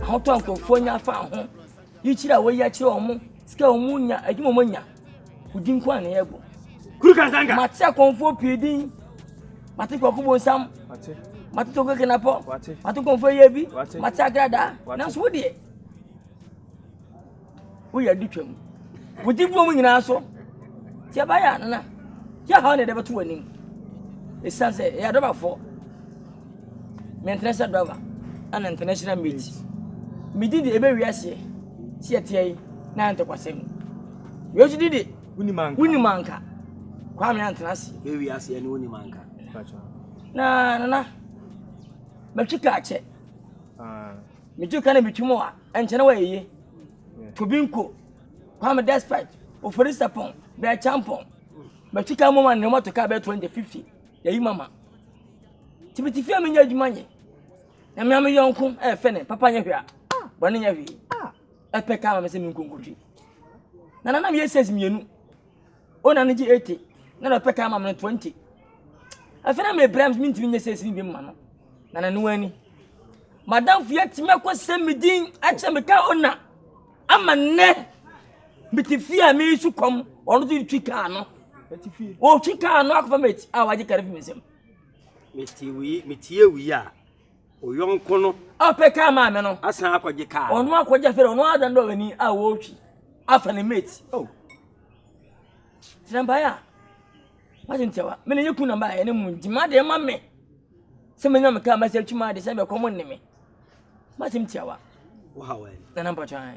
Ahotɔ a nkurɔfoɔ nya fa ho, yikyerɛ a wɔyi akyerɛ wɔn, sika a wɔnya, adwuma a wɔnya, wo din nko a na yɛbɔ. Kuru Kansanga. Mate akɔmfoɔ pii din. Mate Kwaku Bonsam. Mate. Mate Toko Kenapɔ. Mate. Mate nkɔmfoɔ yɛ bi. Mate. Mate Agrada. Nanso wo deɛ. woyɛ ade twam. Wodi boom nyinaa so. Ti ɛbɛyɛ ano na yɛ ha na ɛde bɛto w'anim. Ɛsiane sɛ ɛyɛ adɔbafoɔ. Mentena sɛ dɔba ɛna ntena hyira mate. Medi de ɛbɛ wiaseɛ si ɛteɛ yi na ayɛ ntɔkwasɛm. Yesu di de wonim anka. Kwame antena ase. Ɛbɛ wiaseɛ ne wonim anka. Na nana mɛtwi kaakyɛ. Metu ka na metu mu a, ɛnkyɛ na wɔayɛ yie. Tobinko, Kwame Despite, Ofori Sapon, Bɛɛkyampɔn. Metu ka mu ma ne mɔto kaa bɛɛ 20, 50. Yɛyi mama. Tibitifie a menyɛ adwuma nyɛ. Na me a me yɔnko ɛfɛ ne papa nyɛ hwee a, bɔne nyɛ hwee. Ɛpɛ kaa ma me sɛ menkonkotwi. Na nanam yɛ sɛs mmienu. o na no gye eighty na na ɔpɛ taa ma me no twenty afei na mebrɛ m mentumi nyɛ sɛ ɛsini bi mma no na nano ani madamfo yɛ tumi akɔ sɛ me din akyɛ me ka o na ama nnɛ mete fie a mesu kɔm ɔno so twi kaa no ɔtwi kaa no akɔfa mati a wagye kare fi me nsam metie wei a O yɔnko no. A ɔpɛ kaa maa me no. Asan akɔgye kaa. Ɔno akɔgye afei ɔno adan dɛ ɔbɛni a wɔretwi afa ne mate. O. Oh. Tena mpaeɛ a wagye ntiawa me ne yɛ kun na mbaeɛ ne mu nti ma deɛ ma me sɛ menya me kaa mɛsɛ atwi maa de sɛ bɛkɔ mo nne me masɛm tiawa. Wohaw ɛ. Nana mpɔtwan.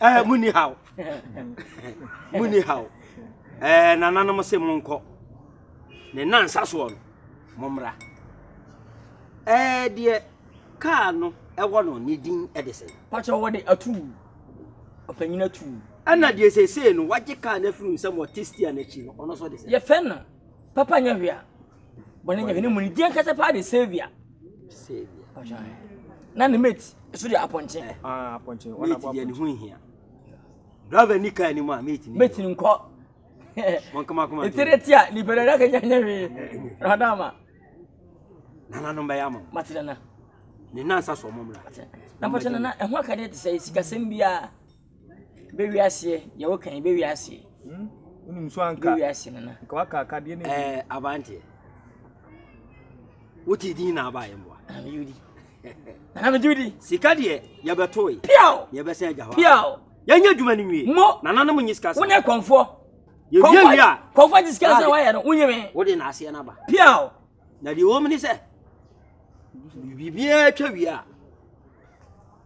ɛɛ mu ni haw mu ni haw ɛɛ nananom se mo nkɔ ne nansa soɔ no mo mmra ɛɛ deɛ kaa no ɛwɔ no ne din ɛde sɛ. pàṣẹ wọ́n de atu ọ̀pẹ̀nyìn atu. ɛna deɛ sese no wagye kaa no afiri nsɛm wɔ testia n'akyi no ɔno nso de sɛ. yɛfɛ no papa nyɛ hwea. bɔne nyɛ ne mu ne deɛ nkasa paa de saviour na ne mate so de apɔnkye ah, mate ne ho nhia driver ni kaa anim a mate ni mate ni nkɔ ɛtere ti a nipa dada ka nyanya hwee rada ama nananom bɛyɛ ama mate nana ne nansa so ɔmɔmmra na pɔkyɛ nana ɛho akadeɛ te sɛ sikasɛm biara Bɛwiaseɛ, deɛ woka yi bɛwiaseɛ. Hmm? Wonim so anka. Bɛwiaseɛ nana. Nka waka akadeɛ no. Ɛɛ abanteɛ. Wote din na aba yɛ mboa. Ana me yudi. Ana me yudi. Sika deɛ yɛbɛto yi. Piao. Yɛbɛsɛn agya hɔ. Piao. Yɛnyɛ adwuma no nwie. Mo. Nana no mo nye sika sɛ. Wone kɔnfoɔ. Yɛwie wie a. Kɔnfoɔ gye sika sɛ wayɛ no wonye me. Wode na aseɛ no aba. Piao. Na deɛ wɔm ne sɛ biribiara twa wie a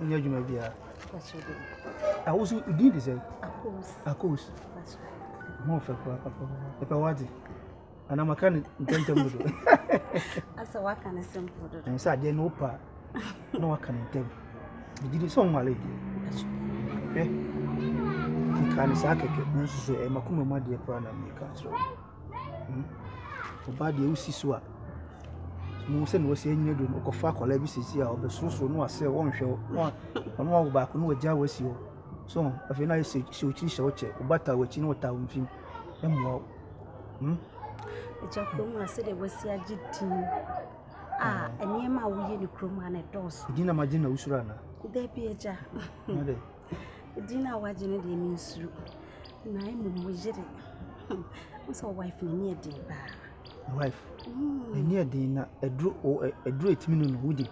Wonyɛ adwuma biara. Ah, wo so din de sɛ? Akos. Mo fɛ pa pa pa. Ɛpɛ wate. Ana maka ne ntɛntɛm dodo. Asa waka ne simple dodo. Ɛn sɛ adeɛ no pa. Na waka ne ntɛm. Bidi ni sɛ ɔnwale. Hwɛ. Nka ne saa kɛkɛ. Nanso so ɛma kuma mu adeɛ pa na meka kyerɛ. Ɔbaa deɛ wosi so a, muhu sɛdeɛ wɔsi nyɛ adwuma no, wokɔfa akwadaa bi seesei a ɔbɛsorosoro na wasere wo, ɔnhwɛ wo, na ɔno wawo baako na wagyaa wo asi hɔ. So ho? Afei na ayɛ sɛ hyɛ wo tiri hyɛ wo kyɛ, wo ba taa w'akyi na ɔtaa wo mfem. Ɛmmoa wo. Hmm? Agya kurom a sɛdeɛ wasi agye din a nneɛma a woyɛ no kurom a na ɛdɔɔso. Din na magye na wosuro anaa? Dabi agya. Din a wagye no deɛ mensuro na mmom wo yere hmm wohu sɛ wo wife no ani yɛ den paa. Wo wife hmm. ani yɛ den na ɛduro ɛduro ɛtumi no no wodi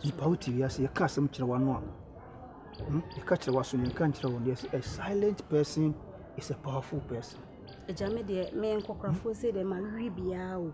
nipa wo te wiase yɛka asɛm kyerɛ w'ano a hmm? yɛka kyerɛ w'aso no yɛka nkyerɛ wɔn deɛ a silent person is a powerful person. agya me deɛ menkɔkorafoɔ sɛ deɛ ma were biara o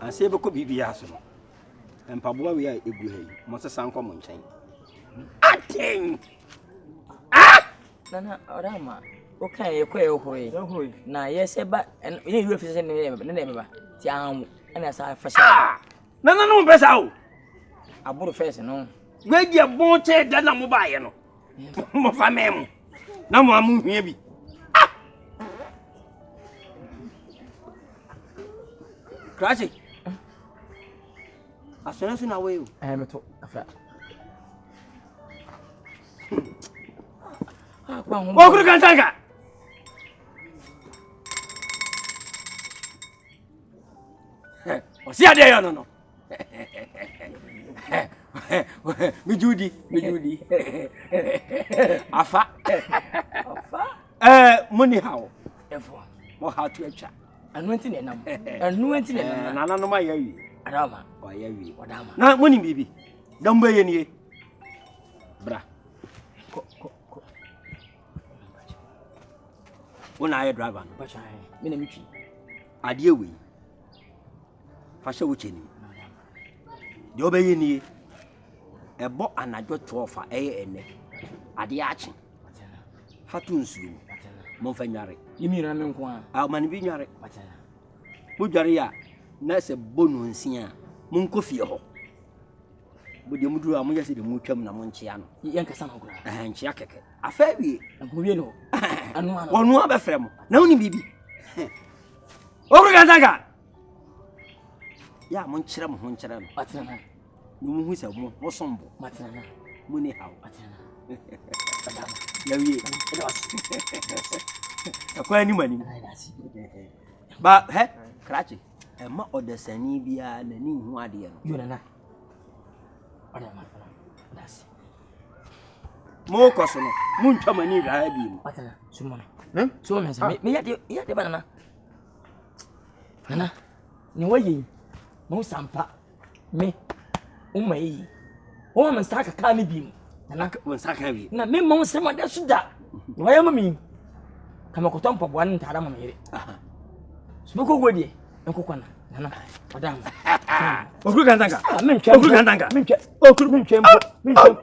ansa yɛbɛkɔ biribiaa so no mpaboa wei a ɛgu ha yi mɔsesa nkɔ mo nkyɛn aten ah! nana ɔrama woka yɛkɔ yɛhoroe na yɛsɛ ba yɛ wura fi sɛ ne na ɛbɛba nti ahamu ɛna saa fa hyɛ ah! nana no mpɛ saa o aboro fɛs no wadi ɛbɔn kyɛ da na mobaeɛ no Mmɔfa mmɛn mu na mo a mohia bi. Ah! Krasi. Asɔre so na woyɛ o. Ɛyɛ meto afra. Wɔkuru kantanka. Ɔsi adeɛ yɛ no no. megye wo di megye wo di afa eh, mo ni ha o mo ha to atwa ɛno nti na ɛnam ɛno nti na ɛnam nananom ayɛ awie adama ɔyɛ awie ɔdama na mo nim biribi dɔm bɛyɛ nie bra kɔ kɔ kɔ wo na ayɛ driver no me na metwi adeɛ wei Fa hyɛ wo kyɛ no mu. Deɛ wobɛyɛ nie, ɛbɔ anadwo 12 a ɛyɛ ɛnɛ, adeɛ akye. Fa to nsuo mu, momfa nware. Ne mmienu ano nko a. A ɔma no bi nware. Modware a na sɛ bɔ no nsia a, monkɔ fie hɔ. Modeɛ moduru a moyɛ sɛ deɛ motwam na monkyea no. Yɛnkasa no koraa. Ɛhɛn nkyea kɛkɛ. Afɛ wie. Nkowie no. Ɛnoa no. Ɔnoa bɛfrɛ mo. Na wonim biribi. Ɔwura Gantaka. Yɛ a monkyerɛ mo ho nkyerɛ no. Ɔtena. Na mohu sɛ mo ho som bo. Ɔtena. Mo ni haw. Ɔtena. Yɛwie. Ɛkɔ anim anim. Ba hɛ krakye ɛma ɔdasani biara n'ani nhu adeɛ no. Yo nana. Ɔda ma fana. Dasi. Mo kɔ so no. Mo ntwa mo ani hwɛ ha bi mu. Ɔtena. Sumɔ no. Sumɔ no sɛ. Meyɛ de meyɛ de ba nana. Nana, nea woayɛ yi, mahu sɛ ampa me wo ma yiye. Woma me nsa aka kaa no bi mu. Nana, wo nsa aka bi. Na memma wo nsɛm ɔda so da. Nea woayɛ ma me ka mekɔtɔ mpaboa ne ntaade ama me yere. So bɛkɔ guo deɛ, nkokɔ na. Nana, ɔda ho. Okuru kantanka. Ah, mentwa. Okuru kantanka. Mentwa. Okuru. Mentwa mpo. Mentwa.